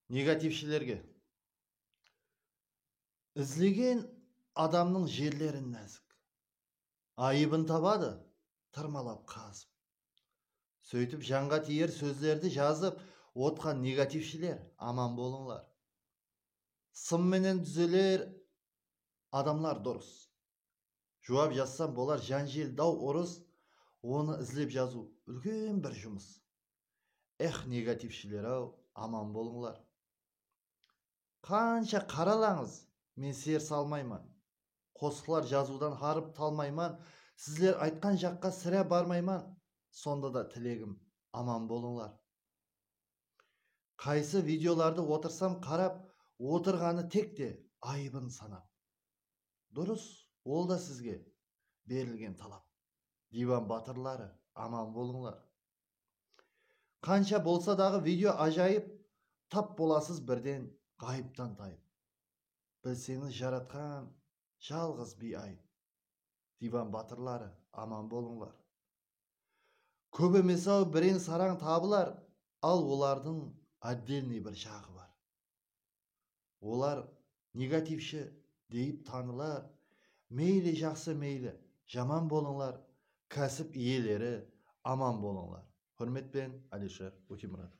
Negativshilerge. Izlegen adamnıń jerlerin názik. Ayıbın tabadı, tırmalap qazıp. Sóytip janǵa tiyer sózlerdi jazıp otqan negativshiler aman bolıńlar. Sım menen dúzeler adamlar durıs. Juwap jazsam bolar janjel daw urıs onı izlep jazıw úlken bir jumıs. Ex negativshiler-aw aman bolıńlar. Qansha qaralańız men ser salmayman. Qosıqlar jazıwdan harıp talmayman, sizler aytqan jaqqa sirá barmayman, sonda da tilegim aman bolıńlar. Qaysı videolardı otırsam qarap otırǵanı tek te ayıbın sanap. Durıs ol da sizge berilgen talap. Divan batırları aman bolıńlar. Qansha bolsa daǵı video ajayıp tap bolasız birden ǵayıptan tayıp Bilseńiz jaratqan jalǵız biy ayıp Divan batırları aman bolıńlar Kóp emesau bireń sarań tabılar al olardıń otdelnıy bir jaǵı bar olar negativshi deyip tanılar, meyli jaqsı meyli jaman bolıńlar, kásip iyeleri aman bolıńlar. Húrmetpen Alisher Ótemuratov.